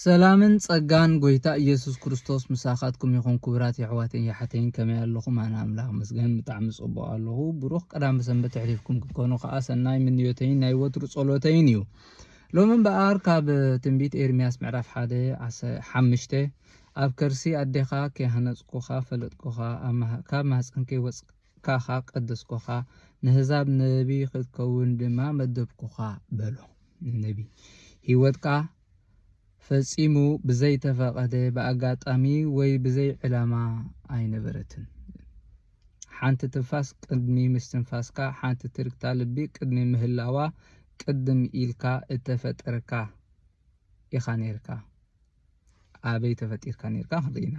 ሰላምን ጸጋን ጎይታ ኢየሱስ ክርስቶስ ምሳኻትኩም ይኹን ኩቡራት የሕዋተይን የሓተይን ከመይ ኣለኹም ኣነ ኣምላኽ ይመስገን ብጣዕሚ ጽቡቕ ኣለኹ ብሩኽ ቀዳመ ሰንበት የሕሊፍኩም ክትኮኑ ከኣ ሰናይ ምንዮተይን ናይ ወትሩ ጸሎተይን እዩ ሎሚ እምበኣር ካብ ትንቢት ኤርምያስ ምዕራፍ ሓደ ሓምሽተ ኣብ ከርሲ ኣዴኻ ከይሃነጽኩኻ ፈለጥኩኻ ካብ ማህጸን ከይወጽ ካኻ ቀደስኩኻ፣ ነህዛብ ነቢይ ኽትከውን ድማ መደብኩኻ በሎ። ንነቢይ፣ ህይወትካ ፈጺሙ ብዘይተፈቐደ፣ ብኣጋጣሚ ወይ ብዘይ ዕላማ ኣይነበረትን። ሓንቲ ትንፋስ ቅድሚ ምስትንፋስካ፣ ሓንቲ ትርግታ ልቢ ቅድሚ ምህላዋ፣ ቅድም ኢልካ እተፈጠርካ ኢኻ ነይርካ። ኣበይ ተፈጢርካ ኔርካ ክንርኢ ኢና።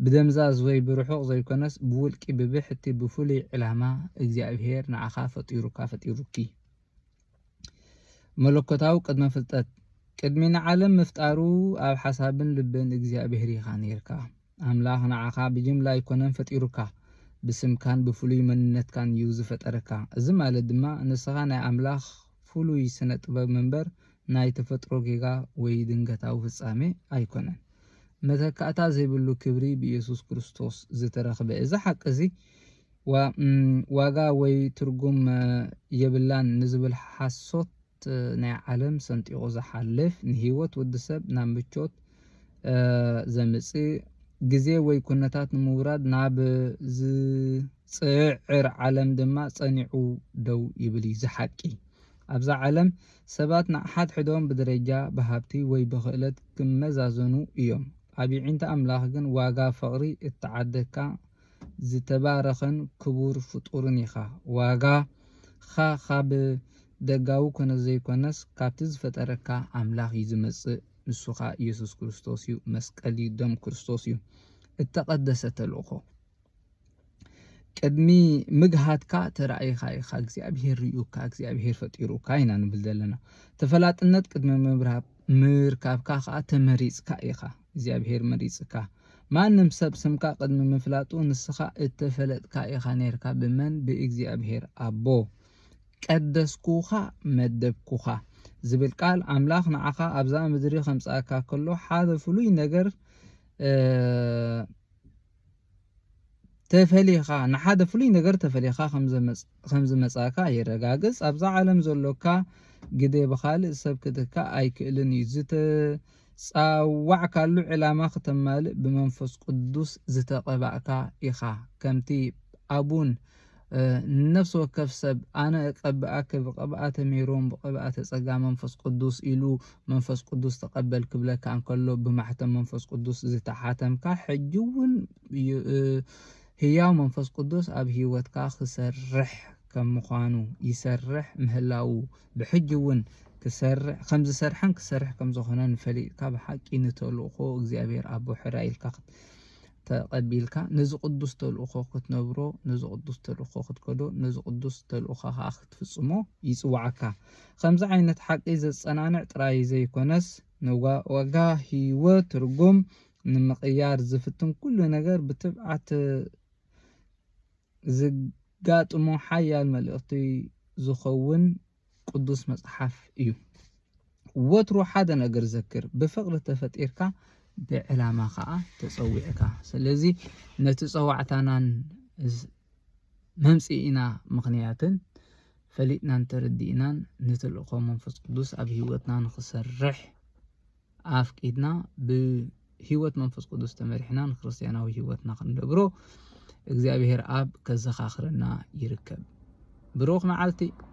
ብደምዛዝ ወይ ብርሑቕ ዘይኮነስ ብውልቂ ብብሕቲ ብፍሉይ ዕላማ እግዚኣብሄር ንዓኻ ፈጢሩካ ፈጢሩኪ። መለኮታዊ ቅድመ ፍልጠት ቅድሚ ንዓለም ምፍጣሩ ኣብ ሓሳብን ልብን እግዚኣብሄር ኢኻ ኔርካ። ኣምላኽ ንዓኻ ብጅምላ ኣይኮነን ፈጢሩካ፣ ብስምካን ብፍሉይ መንነትካን እዩ ዝፈጠረካ። እዚ ማለት ድማ ንስኻ ናይ ኣምላኽ ፍሉይ ስነ ጥበብ እምበር ናይ ተፈጥሮ ጌጋ ወይ ድንገታዊ ፍጻሜ ኣይኮነን። መተካእታ ዘይብሉ ክብሪ ብኢየሱስ ክርስቶስ ዝተረኽበ እዚ ሓቂ እዚ ዋጋ ወይ ትርጉም የብላን ንዝብል ሓሶት እቲ ናይ ዓለም ሰንጢቑ ዝሓልፍ ንህይወት ወዲ ሰብ ናብ ምቾት ዘምጽእ፣ ግዜ ወይ ኵነታት ንምውራድ ናብ ዝጽዕር ዓለም ድማ ጸኒዑ ደው ይብል እዩ። እዚ ሓቂ፣ ኣብዛ ዓለም ሰባት ንሓድሕዶም ብደረጃ፣ ብሃብቲ ወይ ብኽእለት ክመዛዘኑ እዮም። ኣብ የዒንቲ ኣምላኽ ግን ዋጋ ፍቕሪ እተዓደግካ፣ ዝተባረኸን ክቡር ፍጡርን ኢኻ። ዋጋ ኻ ኻብ ደጋዊ ኩነት ዘይኮነስ ካብቲ ዝፈጠረካ ኣምላኽ ዩ ዝመጽእ ንሱ ኸኣ እየሱስ ክርስቶስ ዩ መስቀል ዩ ደም ክርስቶስ ዩ እተቀደሰ ተልእኾ ቅድሚ ምግሃድካ ተራእይኻ ኢኻ እግዚኣብሄር ሪኡካ እግዚኣብሄር ፈጢሩካ ኢና ንብል ዘለና ተፈላጥነት ቅድሚ ምብራብ ምርካብካ ከኣ ተመሪጽካ ኢኻ እግዚኣብሄር መሪጽካ ማንም ሰብ ስምካ ቅድሚ ምፍላጡ ንስኻ እተፈለጥካ ኢኻ ኔርካ ብመን ብእግዚኣብሄር ኣቦ ቀደስኩኻ መደብኩኻ ዝብል ቃል ኣምላኽ ንዓኻ ኣብዛ ምድሪ ከምጽኣካ ከሎ ሓደ ፍሉይ ነገር ተፈሊኻ ንሓደ ፍሉይ ነገር ተፈሊኻ ከም ዝመጻእካ የረጋግጽ። ኣብዛ ዓለም ዘሎካ ግደ ብኻልእ ሰብ ክትካእ ኣይክእልን እዩ። ዝተጻዋዕካሉ ዕላማ ክተማልእ ብመንፈስ ቅዱስ ዝተቐባእካ ኢኻ። ከምቲ ኣቡን ንነፍሲ ወከፍ ሰብ ኣነ እቀብኣኪ ብቅብኣተ ሜሮን ብቅብኣተ ጸጋ መንፈስ ቅዱስ ኢሉ መንፈስ ቅዱስ ተቀበል ክብለካ እንከሎ ብማሕተም መንፈስ ቅዱስ ዝተሓተምካ ሕጂ እውን ህያው መንፈስ ቅዱስ ኣብ ህይወትካ ክሰርሕ ከም ምዃኑ ይሰርሕ ምህላዉ ብሕጂ እውን ክሰርሕ ከም ዝሰርሐን ክሰርሕ ከም ዝኾነን ፈሊጥካ ብሓቂ ንተልእኮ እግዚኣብሔር ኣቦ ሕራይ ኢልካ ተቐቢልካ ነዚ ቅዱስ ተልእኾ ክትነብሮ፣ ነዚ ቅዱስ ተልእኾ ክትከዶ፣ ነዚ ቅዱስ ተልእኾ ከኣ ክትፍጽሞ ይጽውዓካ። ከምዚ ዓይነት ሓቂ ዘጸናንዕ ጥራይ ዘይኮነስ፣ ንዋጋ ህይወት ትርጉም ንምቕያር ዝፍትን ኩሉ ነገር ብትብዓት ዘጋጥሞ ሓያል መልእኽቲ ዝኸውን ቅዱስ መጽሓፍ እዩ። ወትሩ ሓደ ነገር ዘክር፣ ብፍቕሪ ተፈጢርካ ብዕላማ ኸኣ ተጸዊዕካ። ስለዚ ነቲ ጸዋዕታናን መምጽኢና ምኽንያትን ፈሊጥናን ተረዲእናን ንተልእኾ መንፈስ ቅዱስ ኣብ ህይወትና ንኽሰርሕ ኣፍቂድና ብህይወት መንፈስ ቅዱስ ተመሪሕና ንክርስትያናዊ ህይወትና ክንነብሮ እግዚኣብሔር ኣብ ከዘኻኽረና ይርከብ። ብሩኽ መዓልቲ!